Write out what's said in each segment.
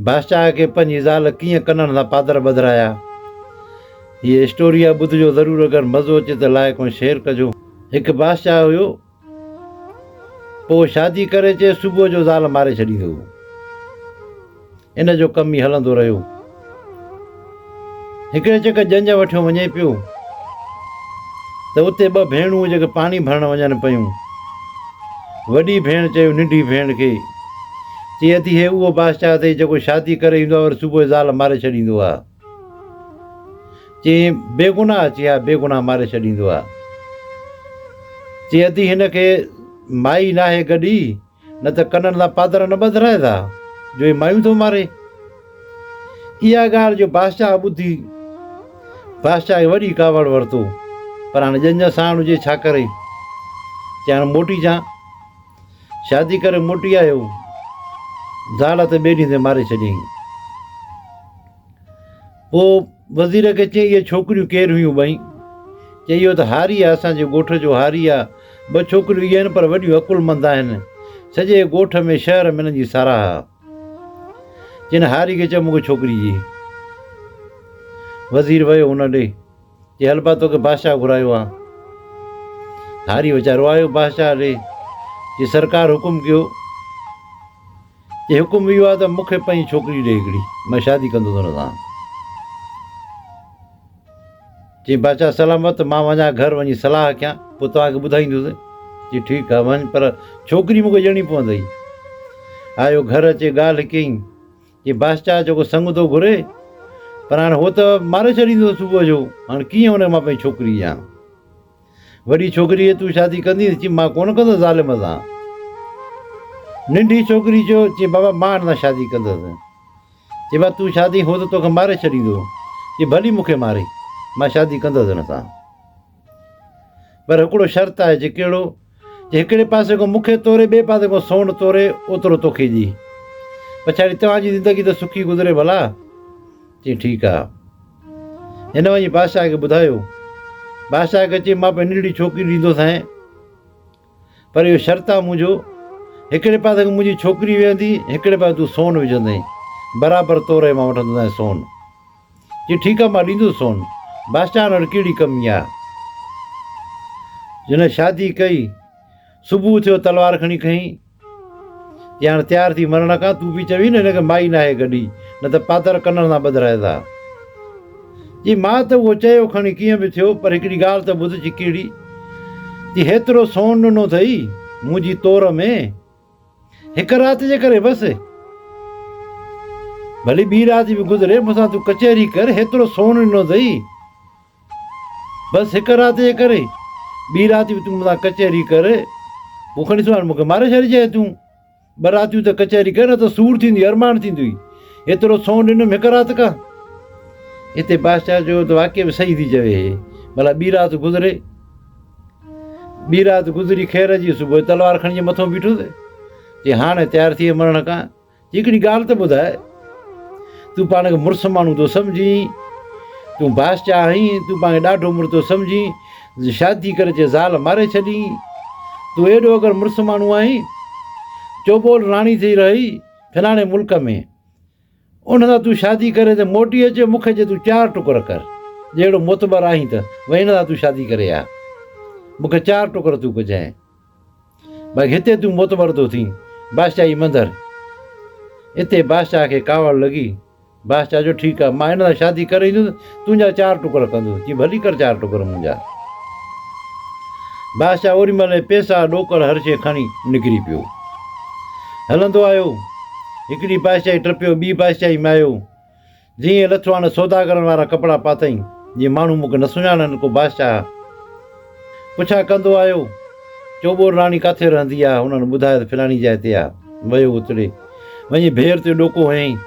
بادشاهه کي پنهنجي زال ڪيئن ڪنن سان پادر ٻڌرايا هي اسٽوري آ ٻڌجو ضرور اگر مزو اچي ته لائڪ ۽ شيئر ڪجو. هڪ بادشاهه هيو پوء شادي ڪري چي صبح جو زال ماري ڇڏيندو هو ان جو ڪم ئي هلندو رهيو. هڪڙي چڪ جنج وٺيو وڃي پيو ته اتي ٻه ڀيڻون جيڪي پاڻي ڀرڻ وڃن پيون. وڏي ڀيڻ چيو ننڍي ڀيڻ کي چي اٿي هي اهو بادشاهه اٿئي جيڪو شادي ڪري ايندو آهي ور صبح جو زال ماري ڇڏيندو آهي. چي بيگناهه اچي ها بيگناهه ماري ڇڏيندو آهي. چي اٿي هن کي مائي ناهي گڏي. نه ته ڪنن سان پادر نه ٻڌرائي ٿا جو هي مايون ٿو ماري. اها ڳالهه جو بادشاهه ٻڌي، بادشاهه کي وڏي ڪاوڙ ورتو، پر هاڻي ڄڃ ساڻ هجي ڇا ڪري؟ چيائين هاڻي موٽي جان. شادي ڪري موٽي آيو، زال هٿ ٻئي ڏينهن تي ماري ڇڏيائين. پوء وزير کي چيائين اهي ڇوڪريون ڪير هيون ٻئي؟ چيائين اهو ته هاري آهي اسان جي ڳوٺ جو هاري آهي. ٻه ڇوڪريون اهي آهن پر وڏيون عقلمند آهن. سڄي ڳوٺ ۾ شهر ۾ انهن جي ساراهه آهي. چيائين هاري کي چئه مون کي ڇوڪري ڏي. وزير ويو ان ڏي. چيائين هل ڀا توکي بادشاهه گهرايو آهي. هاري ويچارو آيو بادشاهه ڏي. چيائين سرڪار حڪم ڪيو. جي حڪم اهو آهي ته مون کي پنهنجي ڇوڪري ڏي هڪڙي، مان شادي ڪندس ان سان. چيائين بادشاهه سلامت، مان وڃان گهر وڃي صلاح ڪيان، پوء توهان کي ٻڌائيندس. چيائين ٺيڪ آهي وڃ، پر ڇوڪري مون کي ڏيڻي پوندئي. آيو گهر اچي ڳالهه ڪيائين. چيائين بادشاهه جيڪو سڱ ٿو گهري، پر هاڻي هو ته ماري ڇڏيندو صبح جو، هاڻي ڪيئن ان کي مان پنهنجي ڇوڪري ڏيان. وڏي ڇوڪري چيو، تون شادي ڪندين؟ چيم، مان ڪونه ڪندس ظالم سان. ننڍي ڇوڪري چيو، چيم، بابا مان هن سان شادي ڪندس. چيم، ها تون شادي هو ته توکي ماري ڇڏيندو. چيم، ڀلي مون کي ماري، مان شادي ڪندس هن سان. پر هڪڙو شرط آهي. چي ڪهڙو؟ چي هڪڙي پاسي کان مون کي توري، ٻئي پاسي کان سون توري، اوترو توکي ڏي. پڇاڙي توهان جي زندگي ته سکي گذري ڀلا. چيائين، ٺيڪ آ. هن وڃي بادشاهه کي ٻڌايو. بادشاهه کي چيائين، مان به ننڍڙي ڇوڪري ڏيندوسانء، پر اهو شرط آ منهنجو، هڪڙي پاسي کان منهنجي ڇوڪري ويهندي، هڪڙي پاسي تون سون وجهندين، برابر طوري مان وٺندوسانء سون. چيائين، ٺيڪ آ، مان ڏيندوس سون. بادشاهه هن وٽ ڪهڙي ڪمي آ؟ هن شادي ڪئي. صبح اٿيو تلوار کڻي کئين. جي هاڻ تيار ٿي مرڻ کان تون به چوين هن کي مائي ناهي گڏي نه ته پادر ڪنن سان ٻڌرائيندا. جي ماء ته اهو چيو کڻي ڪيئن به ٿيو پر هڪڙي ڳالهه ته ٻڌ جي ڪهڙي؟ جي هيترو سون ڏنو اٿئي منهنجي تور ۾ هڪ رات جي ڪري بس. ڀلي ٻي رات به گذري مون سان تون ڪچهري ڪر هيترو سون ڏنو اٿئي. بس هڪ رات جي ڪري ٻي رات به تون مون سان ڪچهري ڪر پوء کڻي سوال مون کي ماري ڇڏجانء تون ٻه راتيون ته ڪچهري ڪر نه ته سور ٿيندي ارمان ٿيندوئي ايترو سون ڏنم هڪ رات ڪا هتي بادشاهه چيو ته واقعي به صحيح ٿي چوي هي ڀلا ٻي رات گذري ٻي رات گذري خير جي صبح تلوار کڻجي مٿو بيٺو ته چي هاڻي تيار ٿئي مرڻ کان هڪڙي ڳالهه ته ٻڌاء، تون پاڻ کي مڙس ماڻهو ٿو سمجهين؟ تون باسچاهه آهين؟ تون پاڻ کي ڏاڍو مڙس ٿو سمجهين؟ شادي ٿي ڪري اچي زال ماري ڇڏين؟ تون ايڏو اگر مڙس ماڻهو آهين؟ چوٻول راڻي ٿي رهي فلاڻي ملڪ ۾، ان سان تون شادي ڪري ته موٽي اچ، مون کي چئه تون چار ٽڪر ڪر، جي اهڙو معتبر آهين ته، وئي هن سان تون شادي ڪري آ، مون کي چار ٽڪر تون ڪجانء. بلڪ هتي تون معتبر ٿو ٿين. بادشاهي مندر. اتي بادشاهه کي ڪاوڙ لڳي. بادشاهه چيو ٺيڪ آهي مان هن سان شادي ڪري ايندس تنهنجا چار ٽڪر ڪندس. چي ڀلي ڪر چار ٽڪر منهنجا. بادشاهه اوري مهل پيسا ڏوڪڙ هر شيء کڻي نڪري پيو. هلندو آيو. هڪڙي بادشاهي ٽپيو ٻي بادشاهي ۾ آيو. جيئن ئي لٿو آن سوداگرن وارا ڪپڙا پاتئين، جيئن ماڻهو مون کي نه سڃاڻن ڪو باشاهه پڇا ڪندو آيو، چوٻور راڻي ڪاٿي رهندي آ؟ هنن ٻڌايو ته فلاڻي جاء تي آ. ويو اتڙي، وڃي ڀير تي ڏوڪو هنيائين.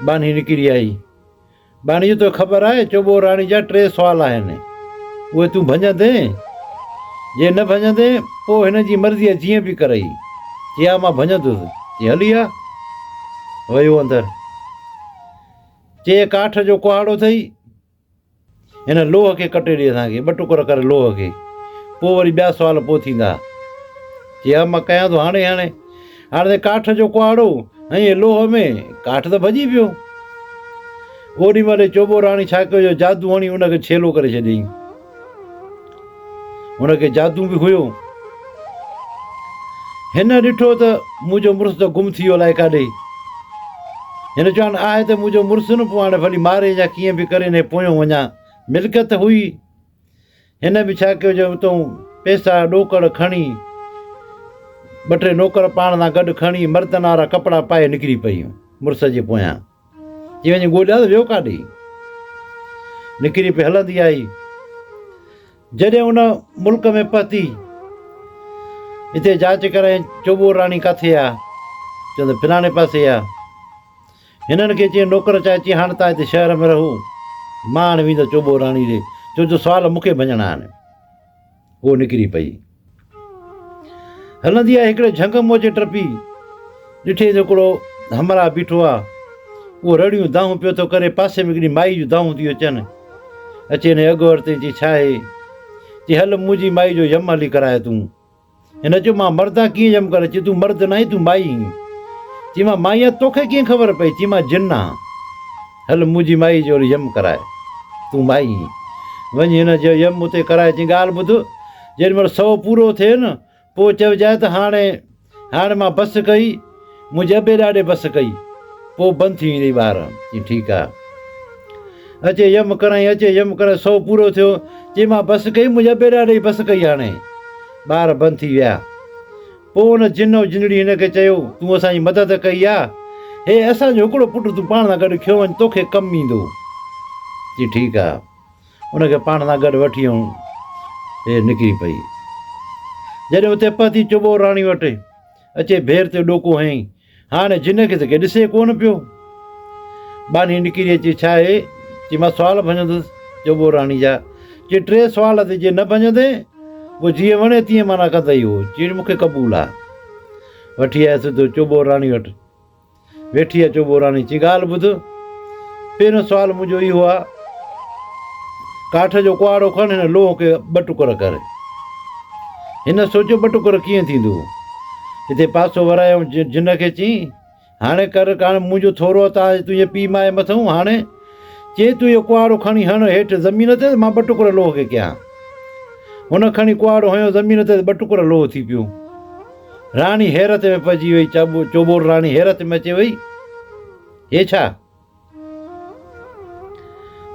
ٻانهي نڪري آئي. ٻانهي چيو، توکي خبر آهي چوٻور راڻي جا ٽي سوال آهن، اهي تون ڀڃندين؟ جي نه ڀڃندين، پوء هن جي مرضي آ جيئن به ڪرئي. چي، ها مان ڀڃندس. چي، هلي آ. ويو اندر. چي ڪاٺ جو ڪهاڙو اٿئي، هن لوهه کي ڪٽي ڏي اسان کي، ٻه ٽڪر ڪر لوهه کي، پوء وري ٻيا سوال پوء ٿيندا. چي ها مان ڪيان ٿو هاڻي هاڻي. هاڻي ڪاٺ جو ڪهاڙو هنئين لوهه ۾، ڪاٺ ته ڀڄي پيو. اوڏي مهل چوٻو راڻي ڇا ڪيو جو جادو هڻي ان کي ڇيلو ڪري ڇڏيائين. هن کي جادو به هيو. هن ڏٺو ته منهنجو مڙس ته گم ٿي ويو الائي ڪاڏي. هن چيو هاڻي آهي ته منهنجو مڙس نه پوء هاڻي ڀلي مارين يا ڪيئن به ڪرين هي پويون وڃان. ملڪيت هئي. هن به ڇا ڪيو جو اتئون پيسا ڏوڪڙ کڻي ٻه ٽي نوڪر پاڻ سان گڏ کڻي مردن وارا ڪپڙا پائي نڪري پيون مڙس جي پويان. جي وڃي ڳوڏا ته ويو ڪاڏي؟ نڪري پئي هلندي آئي. جڏهن ان ملڪ ۾ پهتي، اتي جاچ ڪرايائين، چوٻور راڻي ڪاٿي آ؟ چيو ته فلاڻي پاسي آ. هنن کي چيائين نوڪر چائي چي هاڻ تان هتي شهر ۾ رهو، مان هاڻي ويندس چوٻور راڻي ڏي، چو جو سوال مون کي ڀڃڻا آهن. هوء نڪري پئي. هلندي آهي هڪڙي جهنگ موجي ٽپي، ڏٺيس هڪڙو همراهه بيٺو آ، اهو رڙيون دانهون پيو ٿو ڪري، پاسي ۾ هڪڙي مائي جون دانهون ٿيون اچن، اچي هن جي اڳ ورتي، چي ڇا هي؟ چي هل منهنجي مائي جو يم هلي ڪراء تون. هن چيو مان مرد آ ڪيئن يم ڪران؟ چي تون مرد ناهين، تون مائي هين. چيمانس مائي آ، توکي ڪيئن خبر پئي؟ چيمانس جن آ. هل منهنجي مائيء جو هن يم ڪرائي. تون مائي هين. وڃ هن جو يم اتي ڪرائي اچين. ڳالهه ٻڌ، جيڏي مهل سؤ پورو ٿئي نه، پوء چئجانء ته هاڻي، هاڻي مان بس ڪئي، منهنجي ابي ڏاڏي بس ڪئي، پوء بند ٿي ويندي ٻار. چيائين ٺيڪ آ. اچي يم ڪرائين، اچي يم ڪرائين، سؤ پورو ٿيو، چي مان بس ڪئي، منهنجي ابي ڏاڏي بس ڪئي هاڻي. ٻار بند ٿي ويا. پوء ان جن و جنڙي هن کي چيو، تون اسان جي مدد ڪئي آ، هي اسان جو هڪڙو پٽ تون پاڻ سان گڏ کيو وڃ، توکي ڪم ايندو. چي ٺيڪ آ. ان کي پاڻ سان گڏ وٺي ۽ هي نڪري پئي. جڏهن اتي پهتي چوٻور راڻي وٽ اچي ڀير تي ڏوڪو هنيائين هاڻي جنھن کي ته ڪي ڏسي ڪو نه پيو. ٻانھي نڪري اچي ڇا اھي چي مان سوال ڀڃندس جو ٻوراڻي جا چي ٽي سوال تي جي نه ڀڃندي پوء جيئن وڻي تيئن معنيٰ ڪندئي هو چيڙ مون کي قبول آ. وٺي آيس سڌو چوٻو راڻي وٽ ويٺي آ چوٻو راڻي چي ڳالھ ٻڌ پهريون سوال منھنجو اهو آ ڪاٺ جو ڪهاڙو کڻ هن لوهه کي ٻه ٽڪر ڪر. هن سوچيو ٻه ٽڪر ڪيئن ٿيندو؟ هتي پاسو ورايائون جن کي چين هاڻي ڪر ڪاڻ منهنجو ٿورو آهي تان تنهنجي پيء ماء مٿئون هاڻي چي تون اهو ڪهاڙو کڻي هڻ هيٺ زمين تي مان ٻه ٽڪر لوهه کي ڪيان. هن کڻي ڪهاڙو هنيو زمين تي ٻه ٽڪر لوهه ٿي پيو. راڻي حيرت ۾ پئجي وئي چوٻول راڻي حيرت ۾ اچي وئي هي ڇا؟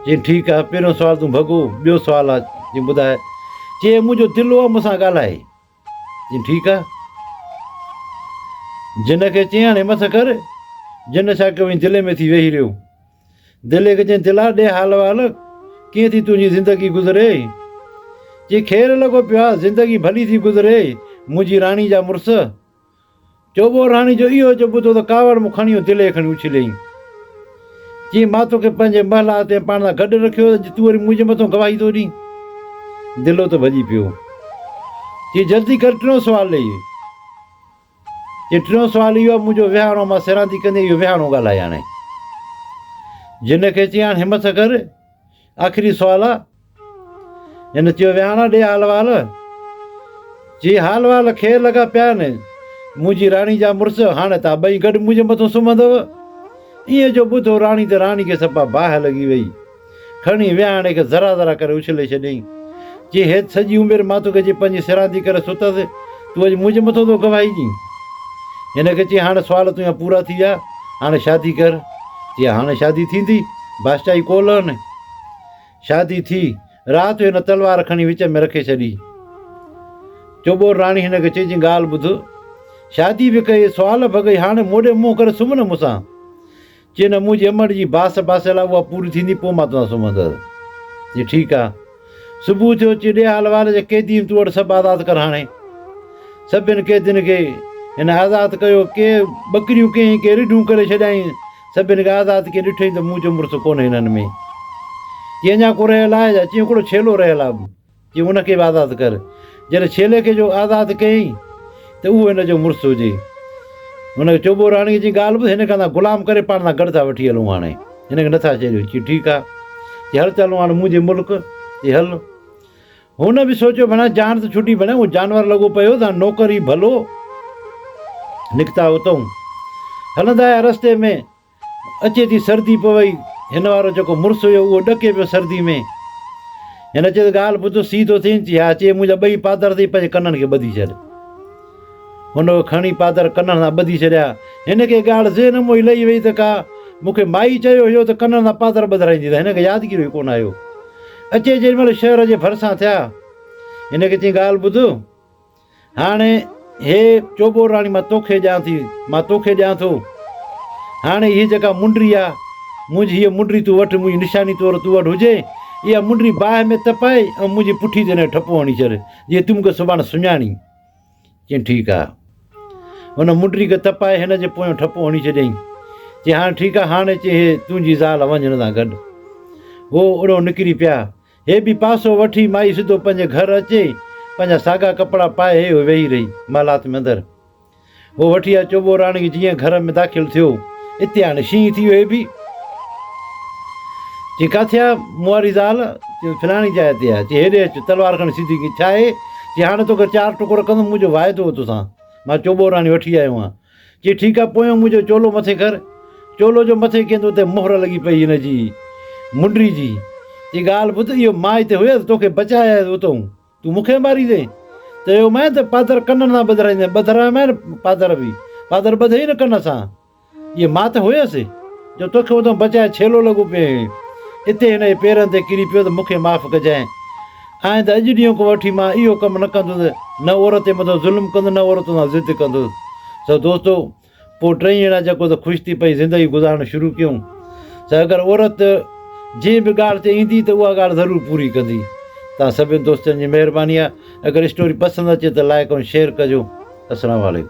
چيائين، ٺيڪ آ، پهريون سوال تون ڀڳو، ٻيو سوال آ، چيائين، ٻڌاء. چيائين، منهنجو دلو آ، مون سان ڳالهاء. چيائين، ٺيڪ آ. جن کي چيائين، هاڻي مس ڪر. جن ڇا ڪيو، وڃي دلي ۾ ٿي ويهي رهيو. دلي کي چيائين، دلا، ڏي حال وحال، ڪيئن ٿي تنهنجي زندگي گذري؟ چيائين، خير لڳو پيو آ، زندگي ڀلي ٿي گذري، منهنجي راڻي جا مڙس. چوٻو راڻي جو اهو جو ٻڌو ته ڪاوڙ مون کڻيو دلهي کڻي اڇليائين. چيائين مان توکي پنهنجي محل آ تين پاڻ سان گڏ رکيو هو ته اڄ تون وري منهنجي مٿو گواهي ٿو ڏين؟ دلهو ته ڀڄي پيو. چيائين جلدي ڪر ٽيون سوال ڏئي. چيائين ٽيون سوال اهو آ منهنجو ويهاڻو مان سيراندي ڪندي اهو ويهاڻو ڳالهائي هاڻي. جن کي چيائين هاڻ همٿ ڪر. آخري سوال آ هن چيو ويهاڻا ڏي حال وال جي حال وال کير لڳا پيا آهن منهنجي راڻي جا مڙس هاڻي تان ٻئي گڏ منهنجي مٿو سمهندو ائين جو ٻڌو راڻي ته راڻي کي سپا باهه لڳي وئي کڻي ويهاڻي کي ذرا ذرا ڪري اڇلي ڇڏيائين جي هيت سڄي عمر مان توکي جي پنهنجي سراندي ڪري ستس تون اڄ منهنجي مٿو ٿو گواهي جي هن کي چي هاڻي سوال تنهنجا پورا ٿي ويا هاڻي شادي ڪر جي هاڻي شادي ٿيندي بادشاهه جي ڪولهن شادي ٿي. رات جو هن تلوار کڻي وچ ۾ رکي ڇڏي. چوٻور راڻي هن کي چيجي ڳالهه ٻڌ. شادي به ڪئي، سوال به ڪئي، هاڻي موڏي منهن ڪري سمهه نه مون سان. چين منهنجي امڙ جي باس باسيل آهي، اها پوري ٿيندي پوء مان تو سان سمهندس. چي ٺيڪ آهي. صبح ٿيو اچي ڏي حال وال جي قيدين تون وٽ سڀ آزاد ڪر هاڻي سڀين قيدين کي هن آزاد ڪيو ڪي ٻڪريون ڪيئي ڪي رڍون ڪري ڇڏيائين سڀين کي آزاد ڪي ڏٺئين ته مون جو مڙس ڪونهي هنن ۾ چي اڃا ڪو رهيل آهي ڇا چي هڪڙو ڇيلو رهيل آهي چي ان کي به آزاد ڪر جڏهن ڇيلي کي جو آزاد ڪيئي ته اهو هن جو مڙس هجي. هن کي چوبو راڻيء جي ڳالهه ٻڌي هن کي آندا غلام ڪري پاڻ سان گڏ ٿا وٺي هلون هاڻي هن کي نٿا ڇيڙيو. چيو ٺيڪ آ چي هل چلون هاڻي منهنجي ملڪ چي هل. هن به سوچيو ڀيڻا جان ته ڇٽي ڀيڻا اهو جانور لڳو پيو سان نوڪر ئي ڀلو نڪتا اتئون هلندا آيا رستي ۾ اچي ٿي سردي پوي، هن وارو جيڪو مڙس هيو اهو ڏڪي پيو سردي ۾. هن چيس ڳالهه ٻڌ سي ٿو ٿين؟ چي ها، چي منهنجا ٻئي پادر اٿئي پنهنجي ڪنن کي ٻڌي ڇڏ. هن اهي کڻي پادر ڪنن سان ٻڌي ڇڏيا. هن کي ڳالهه ذهن مئي لهي وئي ته ڪا مون کي مائي چيو هيو ته ڪنن سان پادر ٻڌرائيندي ته هن کي يادگيرو ئي ڪونه آيو. اچي جيڏي مهل شهر جي ڀرسان ٿيا هن کي چيائين ڳالهه ٻڌ. هاڻي هي چوٻو راڻي مان توکي ڏيان ٿي، مان توکي ڏيان ٿو. هاڻي هيء جيڪا منڊري آ، منهنجي هيء منڊري تون وٺ، منهنجي نشاني طور تو وٽ هجي. اها منڊري باهه ۾ تپائي ۽ منهنجي پٺي تي انهيء ٺپو هڻي ڇڏ، جيئن تون مون کي سڀاڻي سڃاڻين. چيائين ٺيڪ آ. ان منڊري کي تپائي هن جي پويان ٺپو هڻي ڇڏيائين. چيائين هاڻي ٺيڪ آ، هاڻي چيائين هي تنهنجي زال وڃڻ سان گڏ. هو اڙو نڪري پيا. هيء به پاسو وٺي مائي سڌو پنهنجي گهر اچي پنهنجا ساڳا ڪپڙا پائي هيء ويهي رهي محلات ۾ اندر هو وٺي آ چوٻو راڻڪ جيئن گهر ۾ داخل ٿيو اتي هاڻي شينهن ٿي ويو هيء به چي ڪاٿي آ مون واري زال چي فلاڻي جاء تي آ چي هيڏي اچ تلوار کڻي سڌي ڪئي ڇا هي چي هاڻي توکي چار ٽڪر ڪندم منهنجو واعدو هو توسان مان چوٻو راڻي وٺي آيو هان چي ٺيڪ آ پويون منهنجو چولو مٿي ڪر. چولو جو مٿي ڪيندو تي مهر لڳي پئي هن جي منڊري جي. چي ڳالهه ٻڌ اهو مان هتي هيس توکي بچايس اتئون تون مون کي ماريندين. چيومانس ته پادر ڪنن سان ٻڌرائيندين ٻڌرايومانس پادر به پادر ٻڌي ئي نه ڪن سان. چي مان ته هيس جو توکي اتئون بچايس ڇيلو لڳو پيئي اتي هن جي پيرن تي ڪري پيو ته مون کي معاف ڪجانء. آهن ته اڄ ڏينهن کان وٺي مان اهو ڪم نه ڪندس، نه عورت جي مٿان ظلم ڪندس نه عورت سان ضد ڪندس. سو دوستو! پوء ٽئين هيڻا جيڪو ته خوش ٿي پنهنجي زندگي گذارڻ شروع ڪيون. سو اگر عورت جنهن به ڳالهه تي ايندي ته اها ڳالهه ضرور پوري ڪندي. توهان سڀني دوستن جي مهرباني آهي. اگر اسٽوري پسند اچي ته لائيڪ ۽ شيئر ڪجو. السلام عليڪم.